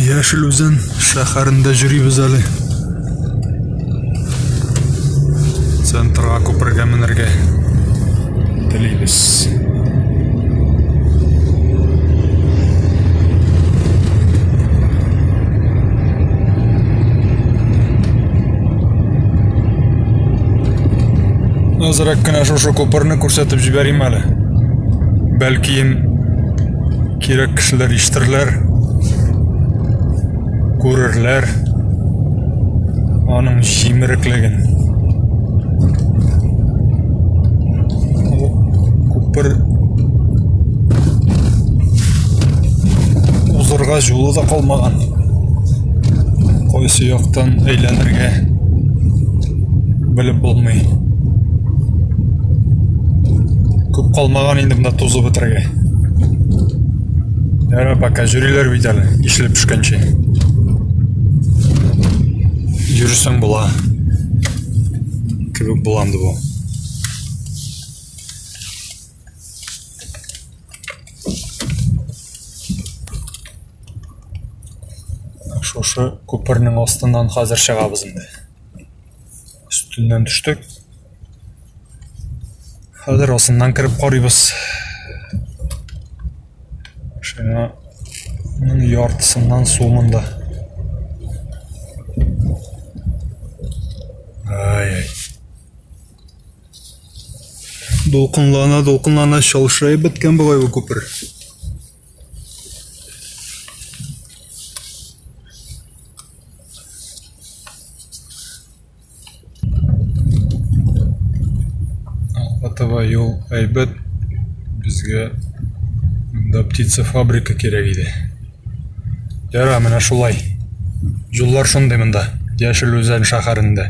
Яшел Үзән шәһәрендә йөрибез әле. Центрга күпергә менергә телибез. Азрак кына шушы күперне күрсәтеп җибәрим әле. Бәлкием кирәк кешеләр ишетерләр, күрерләр аның җимереклеген. Күпер узырга җулы да калмаган. кайсы яктан әйләнергә белеп булмый. Күп калмаган инде монда тузып бетерергә. Ярар, пока җөриләр бит әле, ишле пешкәнче. Йөрсәң була. Кебек буланды бу. шушы күпернең астыннан хәзер чыгабыз инде өстеннән төштек хәзер астыннан кереп карыйбыз машинаның яртысыннан су монда ай ай Дулкынлана, дулкынлана шалшырай беткән бугай бу күпер. Алпатова юл әйбәт безгә монда птица фабрика кирәк иде. Яра, менә шулай. Юллар шундый монда, Яшел Үзән шәһәрендә.